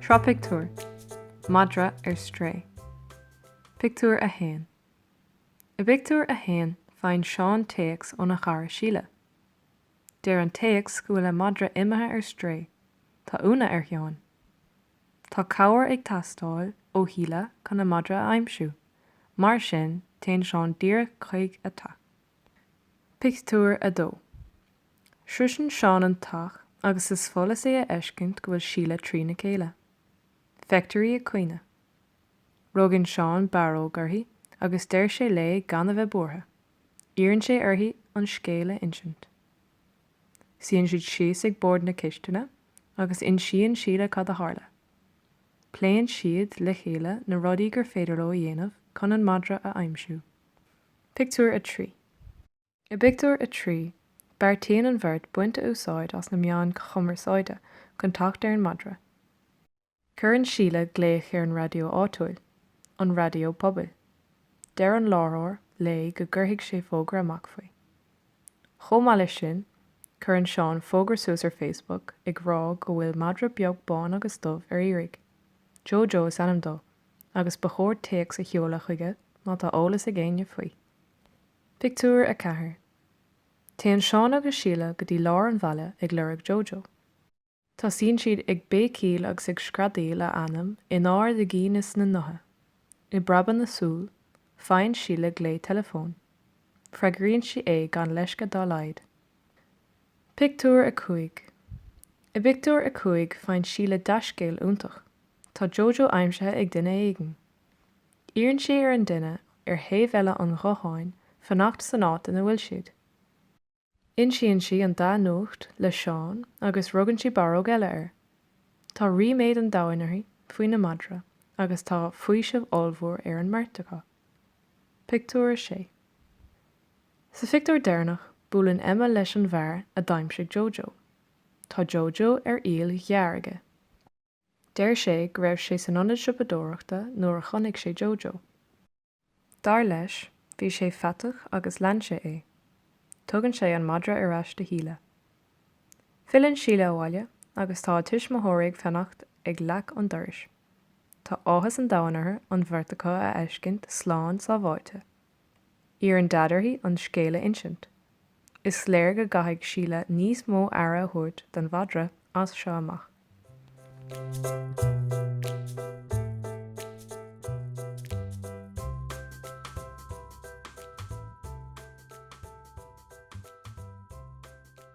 Seo pictiúr, Madra ar strae. Pictiúr 1 I bpictiúr a haon faigheann Seán téacs óna chara Síle. Deir an téacs go bhfuil a madra imithe ar strae. Tá ionadh ar Sheán. Tá cabhair ag teastáil ó Shíle chun a madra a aimsiú, mar sin téann Seán díreach chuig a teach. Pictiúr 2 Sroiseann Seán an teach agus is follas é a fheiscint go bhfuil Síle trí na céile. Feictear í ag caoineadh. Rugann Seán barróg uirthi agus deir sé léi gan a bheith buartha. Iarrann sé uirthi an scéal a insint. Suíonn siad síos ag bord na cistine agus insíonn Síle cad a tharla. Pléann siad le chéile na rudaí gur féidir leo a dhéanamh chun an madra a aimsiú. Pictiúr 3 I bpictiúr a trí, beartaíonn an bheirt baint úsáid as na meáin cumarsáide chun teacht ar an madra. Cuireann Síle glaoch ar an raidió áitiúil, an raidió pobail. Deir an láithreoir léi go gcuirfidh sé fógra amach faoi. Chomh maith leis sin, cuireann Seán fógra suas ar Facebook ag rá go bhfuil madra beag bán agus dubh ar iarraidh. Jojo is ainm dó. agus ba chóir téacs a sheoladh chuige má tá eolas ag éinne faoi. Pictiúr 4 Téann Seán agus Síle go dtí lár an bhaile ag lorg Jojo. Tosaíonn siad ag béicíl agus ag screadaíl a ainm in ard a gcinn is a ngutha. I bpreabadh na súl, faigheann Síle glao teileafóin. Freagraíonn sí é gan leisce dá laghad. Pictiúr 5 I bpictiúr a cúig faigheann Síle dea-scéal iontach, tá Jojo aimsithe ag duine éigin. Iarrann sí ar an duine ar thaobh eile an ghutháin fanacht san áit ina bhfuil siad. Insíonn sí an dea-nuacht le Seán agus rugann sí barróg eile air. Tá ríméad an domhain uirthi faoina madra agus tá faoiseamh ollmhór ar an mbeirt acu. Pictiúr 6. Sa phictiúr deireanach, buaileann Emma leis an bhfear a d'aimsigh Jojo. Tá Jojo ar iall ghearr aige. Deir sé go raibh sé san ionad siopadóireachta nuair a chonaic sé Jojo. Dar leis, bhí sé faiteach agus lean sé é. Tugann sé an madra ar ais do Shíle. Filleann Síle abhaile agus tá a tuismitheoirí ag fanacht ag leac an dorais. Tá áthas an domhain orthu an bheirt acu a fheiscint slán sábháilte. Iarrann Daid uirthi an scéal a insint. Is léir go gcaithfidh Síle níos mó aire a thabhairt don mhadra as seo amach.